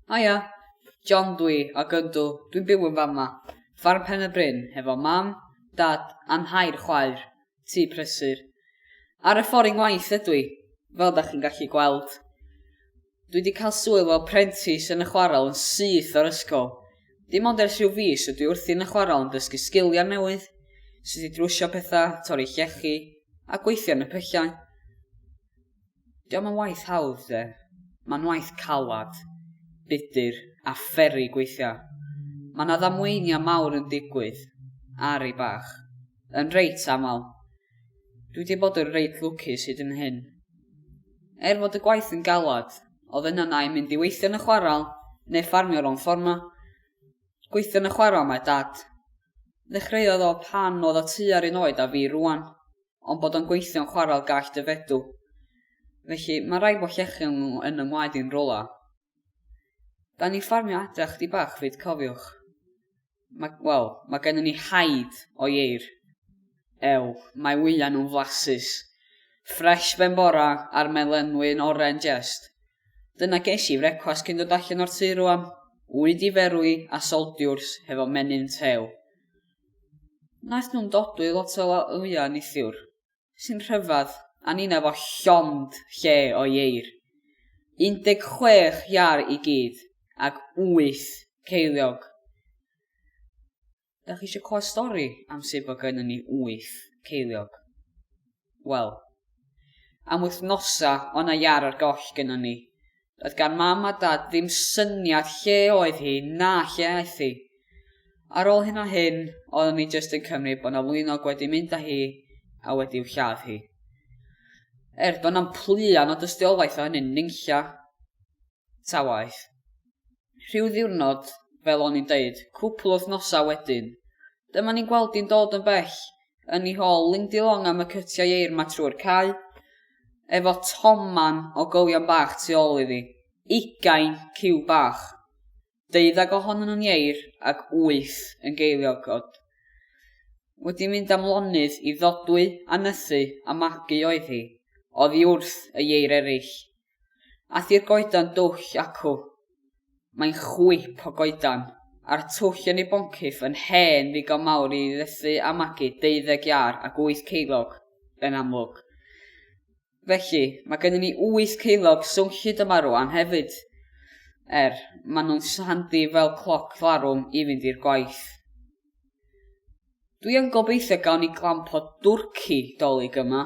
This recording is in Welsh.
Haia! John dw i, ac yndw, dwi'n byw yn fama. Ffarm Pen-y-bryn, hefo mam, dad, a nhair chwaer. Tŷ prysur. Ar y ffordd i ngwaith ydw i, fel da chi'n gallu gweld. Dwi wedi cael swydd fel prentis yn y chwarel yn syth o'r ysgol. Dim ond ers rhyw fis ydw i wrthi yn y chwarel yn dysgu sgiliau newydd, sut i drwsio pethau, torri llechi, a gweithio yn y pyllau. Dio'm yn waith hawdd de. Mae'n waith calad, budr a pheri gweithio. Mae 'na ddamweiniau mawr yn digwydd ar ei bach. Yn reit aml. Dwi 'di bod yn reit lwcus hyd yn hyn. Er fod y gwaith yn galad, oedd yn yna i mynd i weithio yn y chwarel neu ffarmio ro'n fforma. Gweithio yn y chwarel mae Dad. Ddechreuodd o pan oedd o tua'r un oed â fi rwan. ond bod o'n gweithio'n chwarel gall dy fedw. Felly, mae rhaid bod llechion nhw yn yng ngwaed i'n rola. Da ni'n ffarmio adra chdi bach fyd cofiwch. Mae, wel, mae gennym ni haid o ieir. Ew, mae wyliau nhw'n flasus. Ffresh ben bora a'r melenwi'n oren jest. Dyna ges i frecwast cyn dod allan o'r tŷ rwan. Wy di ferwi a soldiwrs hefo menyn tew. Wnaeth nhw'm dodwy lot o la- wya neithiwr, sy'n rhyfedd, a ninna fo llond lle o ieir. 16 iâr i gyd, ag wyth ceiliog. Dach chi eisiau clywed stori am sut bod gynnon ni wyth ceiliog? Wel. Am wythnosa o' 'na iâr ar goll gynnon ni. Doedd gan Mam a Dad ddim syniad lle oedd hi na lle aeth hi. Ar ôl hyn a hyn, oeddwn ni jyst yn cymryd bod 'na lwynog wedi mynd â hi a wedi'w lladd hi. Er, doedd 'na'm pluan o dystiolaeth o hynny'n nunlla ta waeth. rhyw ddiwrnod, fel o'n i'n deud, cwpl o wythnosau wedyn, dyma ni'n gweld hi'n dod yn bell yn ei hôl Lindy Long am y cytiau eir 'ma trwy'r cae, efo toman o gywion bach tu ôl iddi. Ugain ciw bach. Deuddag ohonyn nhw'n ieir ac wyth yn geiliog, o'dd. Wedi mynd am lonydd i ddodwy a nythu a magu oedd hi, oddi wrth y ieir eraill. A thi'r goedan dwll acw. Mae'n chwip o goedan, a'r twll yn ei boncyff yn hen ddigon mawr i ddethu a magu deuddeg iâr ac wyth ceilog, yn amlwg. Felly, mae gennym ni wyth ceilog swnllyd yma rwan hefyd. Er, maen nhw'n handi fel cloc larwm i fynd i'r gwaith. Dwi yn gobeithio gawn ni glamp o dwrci dolig yma.